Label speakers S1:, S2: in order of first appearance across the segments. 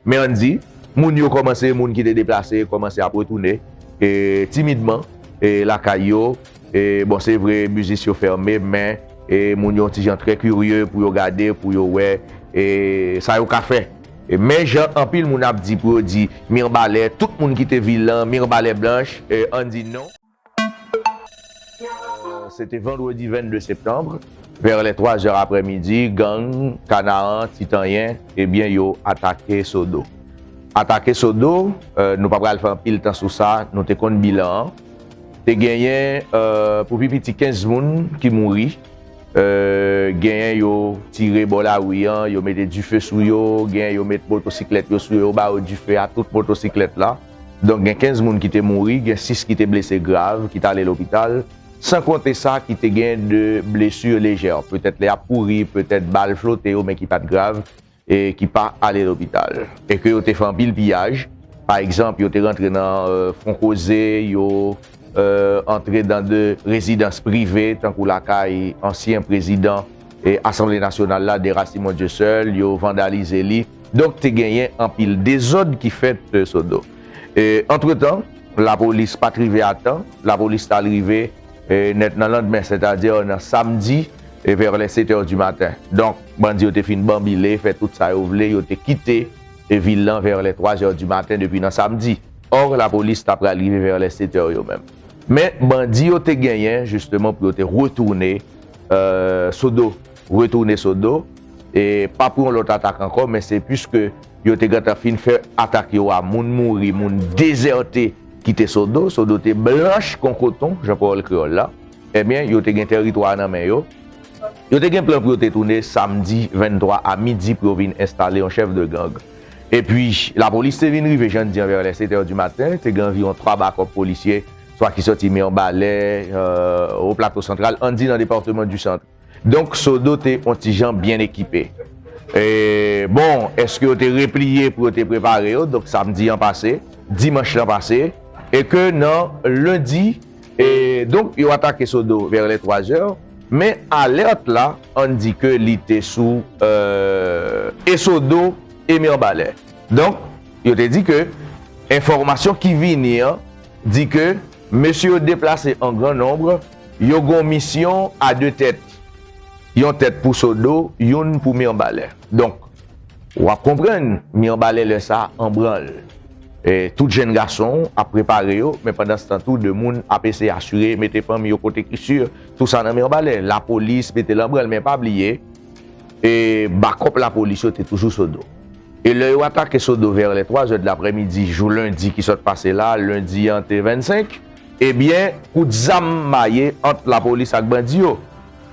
S1: Men an di, moun yo kòmanse, moun ki te deplase, kòmanse ap retounen, e, timidman, e, lakay yo, e, bon, se vre, mizis yo fèmen, men, e, moun yo yon ti jan trè kirye pou yo gade, pou yo wè, e, sa yo ka fè. E, men jan anpil moun ap di pou yo di, Mirbalè, tout moun kite vil lan, Mirbalè blanch, e, an di non. Se te vandredi 22 septanbre, vè lè 3 zè aprè midi, gang Kanaan, Titanyen, ebyen yo atake Sodo. Atake Sodo, nou pa pral fè anpil tan sou sa, nou te konn bilan an. Te genyen pou pi piti 15 moun ki mouri, genyen yo tire bò lari an, yo mete dife sou yo, genyen yo met motosiklèt yo sou yo, yo ba yo dife a tout motosiklèt la. Donk gen 15 moun ki te mouri, gen 6 ki te blese grav ki t ale lopital, san konte sa ki te gen de blesu lejè, petèt lè y ap kouri, petèt bal flote yo men ki pa t grav e ki pa ale lopital. E ke yo te fè anpil piyaj, pa egzanp yo te rantre nan Fonkoze, yo antre dan de rezidans prive tankou lakay ansyen prezidan asanble nasyonal la Dera Simon Dieuseul, yo vandalize li. Donk te genyen anpil dezòd ki fèt Sodo. Antretan, lapolis pa t rive a tan. Lapolis t al rive nèt nan landmen, sètadi nan samdi vè lè setè di maten. Donk, bandi yo te fin banbile, fè tout sa yo vle, yo te kite vil lan vè lè twazè di maten depi nan samdi. Ò, lapolis ta pral rive vè lè setè yo menm. Men, bandi yo te genyen jisteman pou yo te retounen Sodo. retounen sou do, e pa pou yon lòt atak ankò, men se puiske yo te gentan fin fè atak yo a, moun mouri, moun dezète kite Sodo, Sodo te blanch kon koton, jan pawòl kreyòl la, ebyen yo te gen tèritwa a nan men yo, yo te gen plan pou yo te tounen samdi 23 a midi pou yo vin enstale yon chèf de gang. Epi, lapolis te vin rive, jan n di an, vè lè setè di maten, te gen anviwon 3 bakòp polisye, swa ki sòti Mirbalè, Wo Plato Santral, an n di nan departeman du Centre. Donk Sodo te on ti jan byen ekipe. E, bon, èske yo te repliye pou yo te prepare yo, donk samdi an pase, dimanch lan pase, e ke nan lendi, e, donk yo atake Sodo vè lè twa zè, men alèt la, ann di ke li te sou, e, e Sodo e Mirbalè. Donk, yo te di ke enfòmasyon ki vini an di ke mesye yo deplase an gran nonb Yo gon misyon a 2 tèt. Yon tèt pou Sodo, youn pou Mirbalè. Donk, wap konprann Mirbalè lè sa an branl. Tout jenn gason ap prepare yo, men pandanstan tou 2 moun ap eseye asire, mete fanmi yo kote ki sur. Tou sa nan Mirbalè. Lapolis mete l an branl, men pa bliye, bakòp lapolis yo te toujou Sodo. E lè yo atake Sodo vè lè 3 zè de laprèmidi jou lendi ki sot pase la, lendi an te 25. Ebyen kout zam maye ant lapolis ak bandi yo.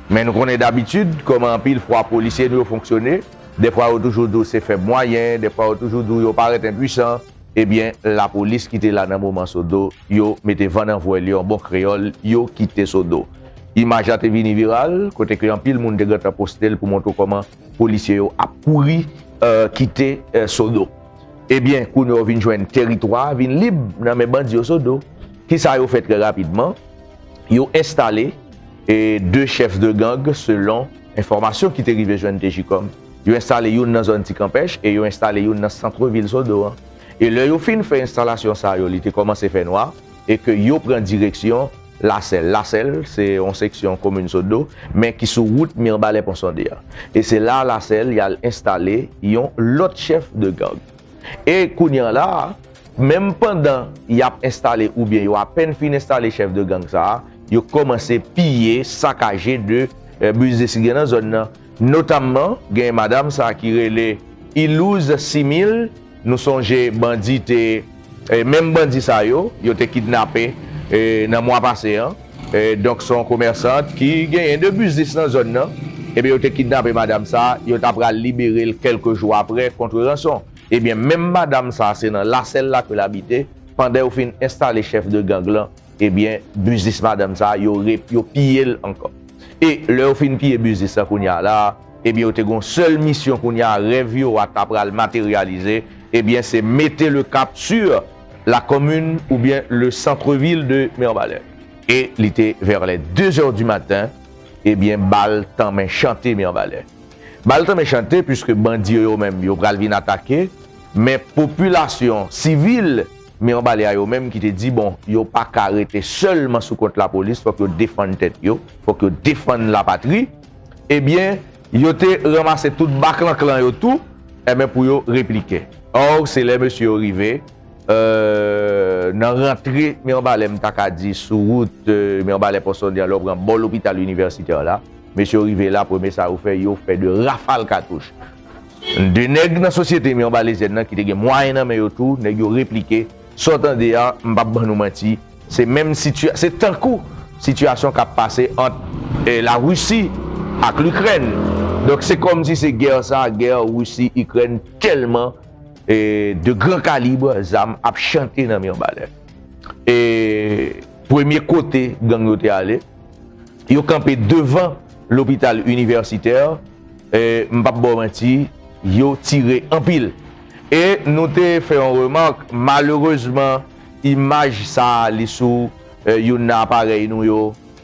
S1: Men nou konnen dabitid kòman anpil fwa polisye nou yo fonksyone, dèfwa yo toujou di w se fèb mwayen, dèfwa yo toujou di w yo parèt enpuisan, ebyen lapolis ki te la nan moman Sodo yo mete van nan vwèl yo an bon kreyòl yo kite Sodo. Imaj la te vini viral kote ke anpil moun te gentan poste l pou montre w kòman Polisye yo ap kouri kite Sodo. Ebyen, kounye a ou vin jwenn teritwa a vin lib nan men bandi yo Sodo. Kisa yo fè trè rapidman? Yo enstale 2 chefs de gang selon enfòmasyon ki te rive jwenn Tjicom. Yo enstale youn nan zòn Ti Kanpèch e yo enstale youn nan santre vil Sodo an. E lè yo fin fè enstalasyon sa yo li te kòmanse fè nwa. e ke yo pran direksyon Lasèl. Lasèl se yon seksyon komin Sodo men ki sou wout Mirbalè Ponsonde an. E se la Lasèl y al enstale yon lòt chèf de gang. E kounye an la, menm pandan y ap enstale oubyen yo apèn fin enstale chèf de gang sa a, yo kòmanse piye, sakaje de biznis ki gen nan zòn nan. Notamman gen madam sa ki rele Ilouz Simil, nou sonje bandi te, menm bandi sa yo, yo te kidnape nan mwa pase an, donk son komèsant ki genyen 2 biznis nan zòn nan, ebyen yo te kidnape madam sa, yo ta pral libere l kèlke jou aprè kontre ranson. Ebyen menm madam sa se nan Lasèl la ke l abite pandan yo fin enstale chèf de gang lan Ebyen biznis madanm sa yo yo piyel ankò e lè yo fin piye biznis la kounya la ebyen yo te gon sèl misyon kounya rèv yo a ta pral materialize ebyen se mete le cap sur la commune oubyen le centre ville de Mirbalais e li te vers les 2 heures du matin ebyen bal tanmen chante Mirbalais bal tanmen chante puiske bandi yo yo menm yo pral vin atake men popilasyon sivil. Men anba li a yo menm ki te di bon yo pa ka rete sèlman sou kont lapolis fòk yo defann tèt yo, fòk yo defann lapatri, ebyen yo te ranmase tout baklanklan yo tou enben pou yo replike. Or se lè mesye yo rive nan rantre Mirbalè m ta ka di sou wout Mirbalè Pòsondè lè w pran bò lopital inivèsitè la, mesye yo rive la premye sa yo fè yo fè 2 rafal katouch. 2 nèg nan sosyete mi anba lezèn nan ki te gen mwayen nan men yo tou, nèg yo replike, sa w tande a, m pap ban nou manti, se menm sitya, se tankou sitiyasyon k ap pase ant Larisi ak Likrèn. Donk se kòmsi se gè sa, gè Risi, Ikrèn tèlman 2 gran kalibre zam ap chante nan mi anba lè. E premye kote gang yo te ale, Yo kanpe devan lopital inivèsitè, m pap ba w manti, yo tire anpil. E nou te fè yon remak, malerezman imaj sa li sou youn nan aparèy nou yo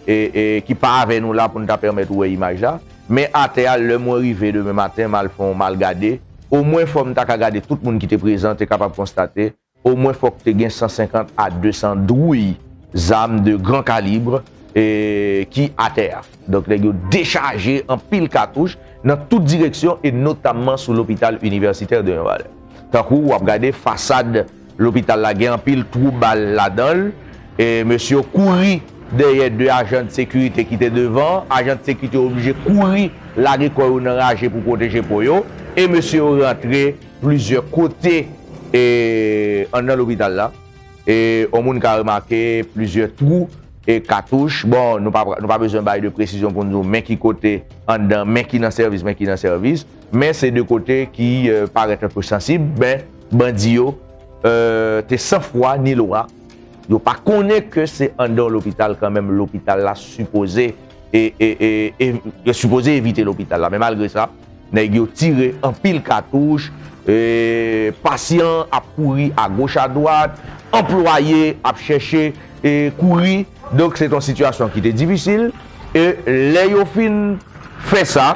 S1: ki pa avè nou la pou n ta pèmèt ou wè imaj la. Men atè a lè mwen rive demen maten m al fè yon mal gade, omwen fò m ta ka gade tout moun ki te prezan te kapab konstate Omwen fòk te gen 150 a 200 dwouy zam de gran kalibre ki atè a. Donk nèg yo dechaje anpil katouch nan tout direksyon e notamman sou lopital inivèsitè de Mibalè. Tankou wap gade fasad lopital la gen anpil twou bal ladan l, mesye yo kouri dèyè 2 ajan de sekirite ki te devan, ajan de sekirite yo oblije kouri lage kò yo nan raje pou pwoteje po yo e mesye yo rantre. Plizyè kote anndan lopital la, yon moun ka remake plizyè twou katouch. Bon, nou pa bezwen bay de presizyon pou nou di w men ki kote anndan, men ki nan sèvis, men ki nan sèvis. Men se de kote ki parèt anpe sansib. Men, bandi yo te san fwa ni lwa. Yo pa konnen ke se anndan yon lopital kanmenm lopital la sipoze evite lopital la. Men malgre sa. Nèg yo tire anpil katouch, pasyan ap kouri agoch adwat, anplwaye ap chèche kouri. Donk se te yon sitiyasyon ki te difisil. E lè yo fin fè sa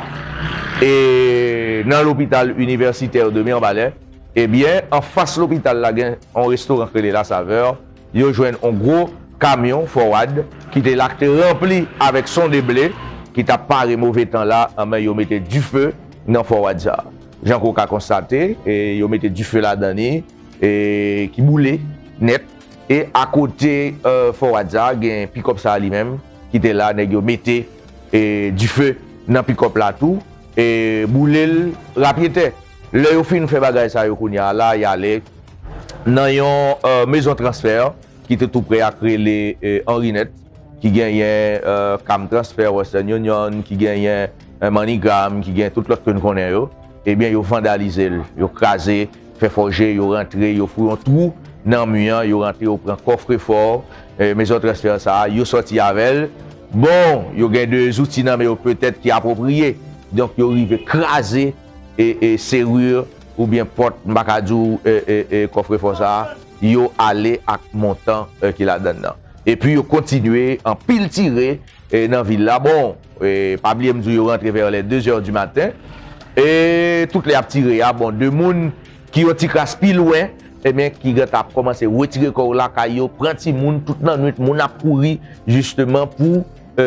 S1: nan lopital inivèsitè de Mirbalè, ebyen anfas lopital la gen yon restoran ki rele La Saveur. yo jwenn on gwo kamyon fowad ki te la k te ranpli avèk sonde ble ki tap pare move tan la anmè yo mete dife nan fowad sa jan ke w ka konstate e yo mete dife ladan ni e ki boule nèt e akote fowad sa gen pikòp sa li menm ki te la nèg yo mete e dife nan pikòp la tou e boule l rapyetè. Lè yo fin fè bagay sa yo kounye a la, y ale nan yon mezon transfè ki te toupre a k rele Anrinèt, ki genyen Cam Transfer, Western Union, ki genyen MoneyGram, ki genyen tout lòt ke n konnen yo. Ebyen, yo vandalize l, yo kraze, fè fòje, yo rantre, yo fou yon twou nan mi an, yo rantre, yo pran kòfrefò mezon transfè sa a, yo sòti avè l. Bon, yo gen de zouti nan men yo petèt ki apwopriye, donk yo rive kraze. serrure oubyen pòt m pa ka di w kòfrefò sa a, yo ale ak montan ki ladan l lan. Epi yo kontinye anpil tire nan vil la. Bon, pa bliye m di w yo rantre vè lè dezè di maten. E tout lè y ap tire a, bon, de moun ki yon ti kras pi lwen, ebyen ki gentan ap kòmanse wetire kò yo lakay yo, pran timoun, tout lannwit moun ap kouri jisteman pou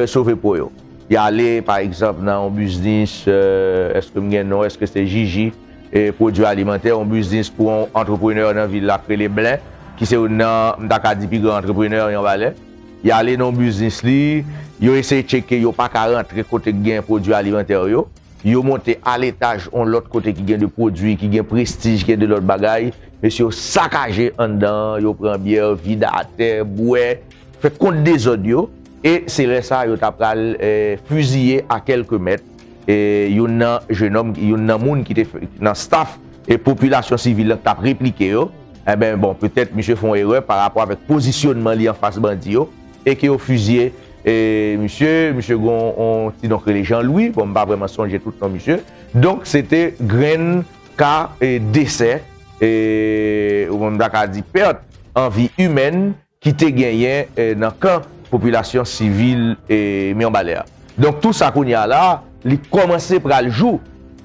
S1: sove po yo. Y ale, pa egzanp, nan yon biznis, èske m gen non, èske se Jiji, pwodui alimantè, yon biznis pou yon antreprenè nan vil la k rele Blen, ki se youn nan, m ta ka di, pi gran antreprenè Yanvalè. Y ale nan yon biznis li, yo eseye tcheke, yo pa ka rantre kote k gen pwodui alimantè yo. Yo monte aletaj yon lòt kote ki gen de pwodui, ki gen prestij, ki gen de lòt bagay. Mesye yo sakaje anndan an, yo pran byè, vide atè, bwè, fè kont dezòd yo. E se lè sa yo ta pral fiziye a kèlke mèt youn nan jenòm, youn nan moun ki te nan staf e popilasyon sivil la ki t ap replike yo. Enben, bon, petèt misye fè yon erè pa rapò avèk pozisyonman li anfas bandi yo e ke yo fiziye misye. Misye gen yon ti non k rele Jean Louis, bon, m pa vrèman sonje tout non misye. Donk, se te grenn ka desè, ou menm m ta ka di pèt an vi imèn ki te genyen nan kan popilasyon sivil Mirbalè a. Donk tou sa kounye a la a, li kòmanse pral jou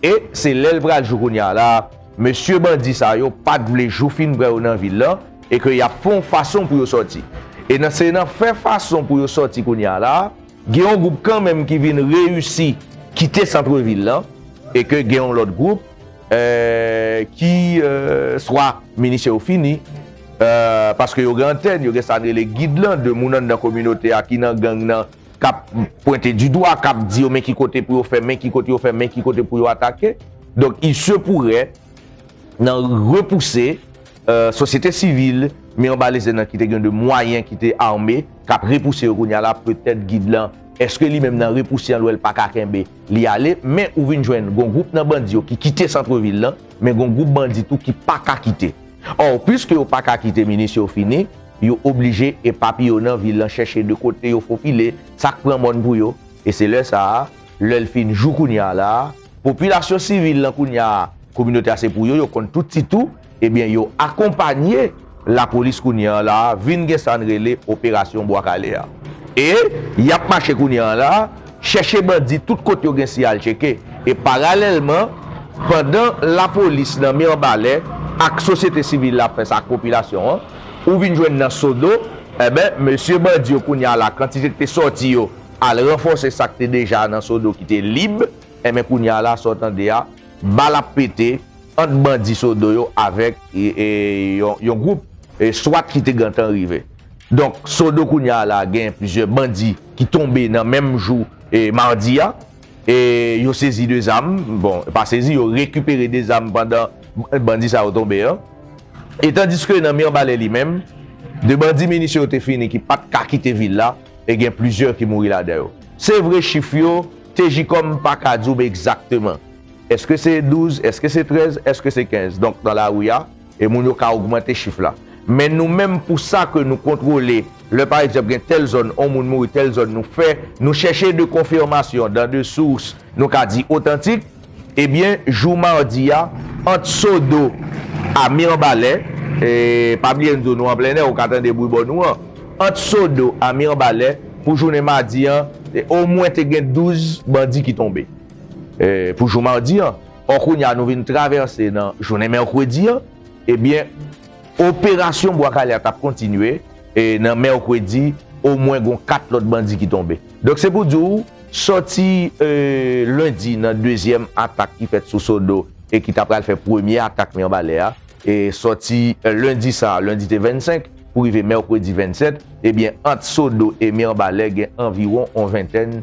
S1: e se lè l pral jou kounye a la a, mesye bandi sa yo pa t vle jou fin pran yo nan vil lan e ke y ap fè yon fason pou yo sòti. E nan se nan fè fason pou yo sòti kounye a la a, gen yon gwoup kanmenm ki vin reyisi kite santrevil lan e ke gen yon lòt gwoup ki swa minisyon yo fini, Paske yo gen antèn, yo gen sa n rele gid lan, de moun anndan kominote a ki nan gang nan k ap pwente di dwa, k ap di yo men ki kote pou yo fè, men ki kote yo fè, men ki kote pou yo atake. Donk il se pourrait nan repouse sosyete sivil, men anba lese nan ki te gen de mwayen ki te ame, k ap repouse yo kounya la, petèt gid lan, eske li menm nan repouse an l wè l pa ka kenbe, li ale. Men ou vin jwenn gon gwoup nan bandi yo ki kite santrevil lan, men gon gwoup bandi tou ki pa ka kite. Or, puiske yo pa ka kite minis yo fini, yo oblije epapiye nan vil lan chèche de kote yo fofile, sa k pran mòn pou yo. E se lè sa a, lè l fin jou kounye a la a, popilasyon sivil lan kounye a, kominote a se pou yo, yo konn tout ti tou, ebyen yo akonpanye lapolis kounye a la a vin gen sa n rele operasyon Bwa Kale a. E y ap mache kounye a la a, Chèche bandi tout kote yo gen siyal tcheke e paralèlman pandan lapolis nan Mirbalè ak sosyete sivil la ap fè sa ak popilasyon an, ou vin jwenn nan Sodo, enben mesye bandi yo kounye a la kantite k te sòti yo al ranfòse sa k te deja nan Sodo ki te lib, enben kounye a la sa w tande a bal ap pete ant bandi Sodo yo avèk yon gwoup swat ki te gentan rive. Donk Sodo kounye a la gen plizyè bandi. ki tonbe nan menm jou madi a, yo sezi 2 zam, bon pa sezi yo rekipere 2 zam pandan bandi sa yo tonbe an, e tandiske nan Mirbalè li menm, 2 bandi minisyon yo te fini ki pat ka kite vil la, e gen plizyè ki mouri ladan yo. Se vre chif yo, TJCOM pa ka di w egzakteman, eske se 12, eske se 13, eske se 15, donk nan lari a, E moun yo ka ogmante chif la. Men nou menm pou sa ke nou kontwole, lè pa egzanp gen tèl zòn on moun mouri, tèl zòn nou fè, nou chèche de konfirmasyon dan de sous nou ka di otantik, ebyen jou madi a, ant Sodo a Mirbalè, e pa bliye n di w nou an plennè ou ka tande bwi bò nou an, ant Sodo a Mirbalè pou jounen madi an, omwen te gen 12 bandi ki tonbe. Pou jou madi an. Or kounya nou vin travèse nan jounen mèkredi an, ebyen operasyon Bwa Kale a t ap kontinye e nan mèkredi omwen gon 4 lòt bandi ki tonbe. Donk se pou di w sòti lendi nan dezyèm atak ki fèt sou Sodo e ki ta pral fè premye atak Mirbalè a, e sòti lendi sa a, lendi te 25, pou rive mèkredi 27, ebyen ant Sodo e Mirbalè gen anviwon on ventèn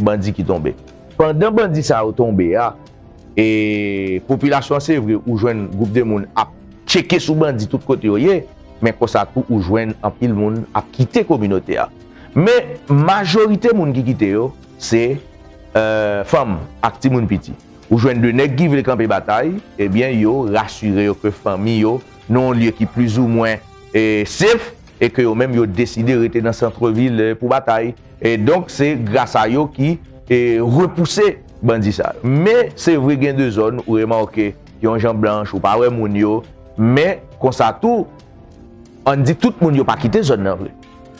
S1: bandi ki tonbe. Pandan bandi sa yo tonbe a e popilasyon an se vre ou jwenn gwoup de moun ap tcheke sou bandi tout kote yo ye men konsa tou ou jwenn anpil moun ap kite kominote a men majorite moun ki kite yo se fanm ak timoun piti ou jwenn de nèg ki vle kanpe batay ebyen yo rasire yo ke fanmi yo nan yon lye ki plizoumwen e safe. e ke yo menm yo deside rete nan centre ville pou batay e donk se gras a yo ki e repouse bandi sa yo men se vre gen de zòn ou remake yon jan blanch ou pa wè moun yo men konsa tou ann di tout moun yo pa kite zòn nan vre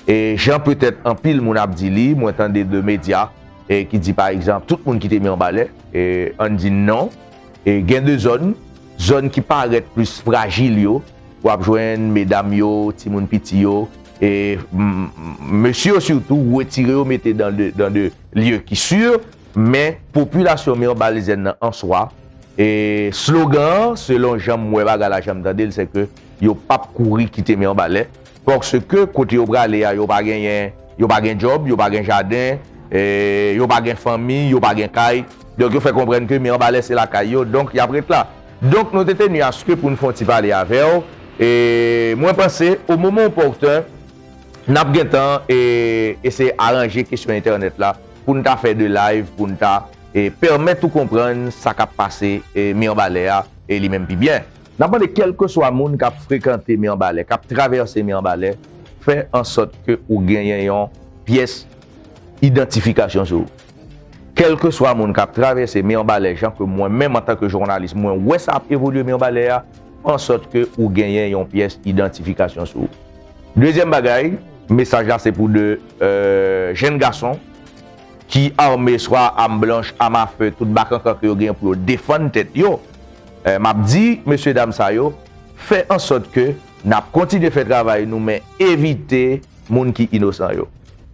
S1: e jan petèt anpil moun ap di li mwen tande de medya e ki di pa egzanp tout moun kite mirebalè e ann di non e gen de zòn zòn ki parèt plis frajil yo. W ap jwenn medam yo, timoun piti yo, e mesye yo sitou, ou retire yo mete dan de lye ki si. Men, popilasyon Mirbalaiseenne nan an swa, e slogan an, selon jan m wè bagay la, jan m tande l, se ke yo pap kouri kite Mirbalais. Paske kote yo prale a yo pa genyen, yo pa gen djòb, yo pa gen jaden, yo pa gen fanmi, yo pa gen kay. Donk yo fè konprann ke Mirbalè se lakay yo, donk y ap ret la. Donk nou te tenu a ce ke pou n fè yon ti pale avè w. E mwen panse au moment opportun n ap gen tan eseye aranje kesyon entènèt la pou n ta fè 2 live pou n ta pèmèt ou konprann sa k ap pase Mirbalè a li menm pi byen. N ap mande kèlkeswa moun k ap frekante Mirebalais, k ap travèse Mirebalais, fè ansòt ke ou genyen yon pyès idantifikasyon sou ou. Kèlkeswa moun k ap travèse Mirebalais jan ke mwen menm antanke jounalis mwen wè sa ap evolye Mirebalais a, fè ansòt ke ou genyen yon pyès idantifikasyon sou ou. Dezyèm bagay, mesaj la se pou 2 jenn gason ki ame swa a am blanch, am a fe, tout bakankan ke yo genyen pou yo defann tèt yo. Map di mesye dam sa yo fè ansòt ke nap kontinye fè travay nou men evite moun ki inosan yo.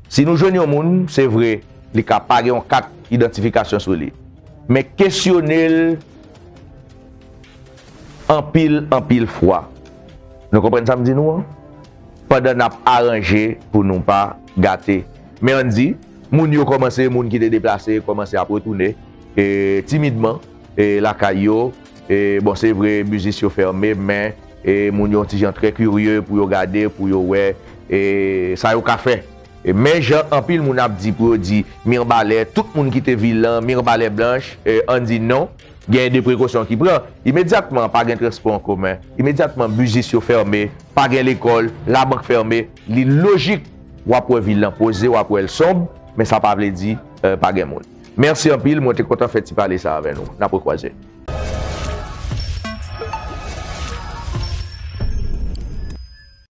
S1: Si nou jwenn yon moun se vre li ka pa gen yon kat idantifikasyon sou li men kesyone l anpil anpil fwa nou konprann sa m di nou an pandan nap aranje pou nou pa gate. Men an di moun yo kòmanse moun ki te deplase kòmanse ap retounen timidman. lakay yo bon se vre biznis yo fèmen men moun yo yon ti jan trè kirye pou yo gade pou yo wè sa yo ka fè men jan anpil moun ap di pou yo di mirbalè tout moun ki te vil lan mirbalè blanch an di non gen de prekosyon ki pran imedyatman pa gen transpò an komen imedyatman biznis yo fèmen pa gen lekòl labank fèmen li lojik wap wè vil lan poze wap wèl sonb men sa pa vle di pa gen moun. Merci anpil mwen te kontan fè ti pale sa avè nou nap rekwaze.